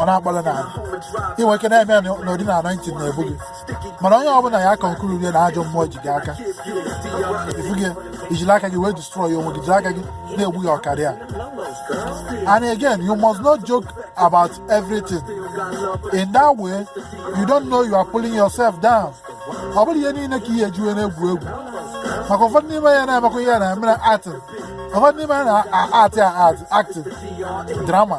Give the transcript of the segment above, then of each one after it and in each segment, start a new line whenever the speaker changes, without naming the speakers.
ọ na-agbalị n'ala ị nwere ike na-eme ya n'ụdị na anointing na-ebu gị mana onye ọbụla ya conclude na ajọ mmụọ ji gị aka efu gị ijiri aka gị wee destroy onwe gị jiri aka gị na-egbu your career and again you must not joke about everything in that way you don't know you are pulling yourself down ọ bụrọ ihe niile ka i ya-eji wee na-egwu egwu maka ụfọdụ n'ime ya na-emekwa ihe na-emere acting ụfọdụ n'ime ya na-atị atị acting drama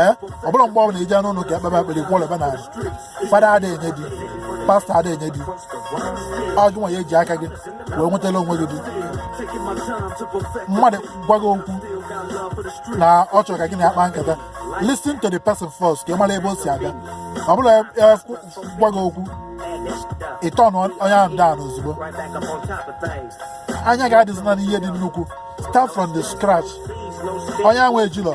ee ọ bụrọ mgbe ọbụla ị je n'ụlọ ụka ekpebe ekpere kwụlebe na fada ada enye di pastọ ada enye di ọ gị nwa ya eji aka gị wee nwetara onwe gị di mmadụ gwa gị okwu na ọ chọrọ ka gị na ya kpaa nkata listen to the person first ka ị mara ebe o si aga ọ bụrọ ya gwa gị okwu ị turn onye ahụ down ozigbo anya gị adịzina n'ihe dị nnukwu start from the scratch onye ahụ ejilọ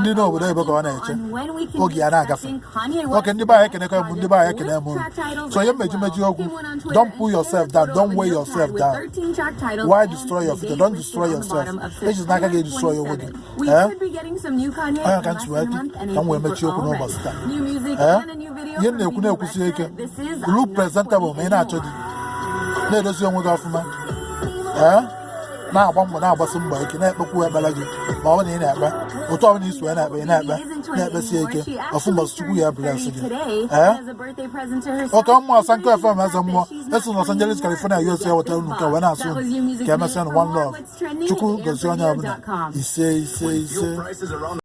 ndị n'obodo ebe ka ọ na-eche oge ya na-agafe okay ndị be anyị ekenekọ m ndị be anyị ekene m so ihe m eji mechi okwu don't pull yourself down don't weigh yourself down why destroy your future don't destroy yourself ejizina aka gị destroy onwe gị eh? onye ka ntị wee ka m wee mechie okwu n'ụbọchị taa eh? ihe m na-ekwu na-ekwusi ike look presentable ma ị na-achọ di na-edozi onwe gị ọfụma eh? na-agba mbọ na-agbasi mbọ ike na-ekpekwu ekpere gị ma ọ bụ na ị na-ekpe otu ọbụla i si ya na-ekpe ị na-ekpe na-ekpesi ike ofu mbọsị chukwu ya bless gị ee oke mmụọ sanko fm eze mmụọ esi na Los Angeles California US ya wetara unu nke a wee na-asị unu ka emesịa na one love chukwu gozie onye ọbụla ise ise ise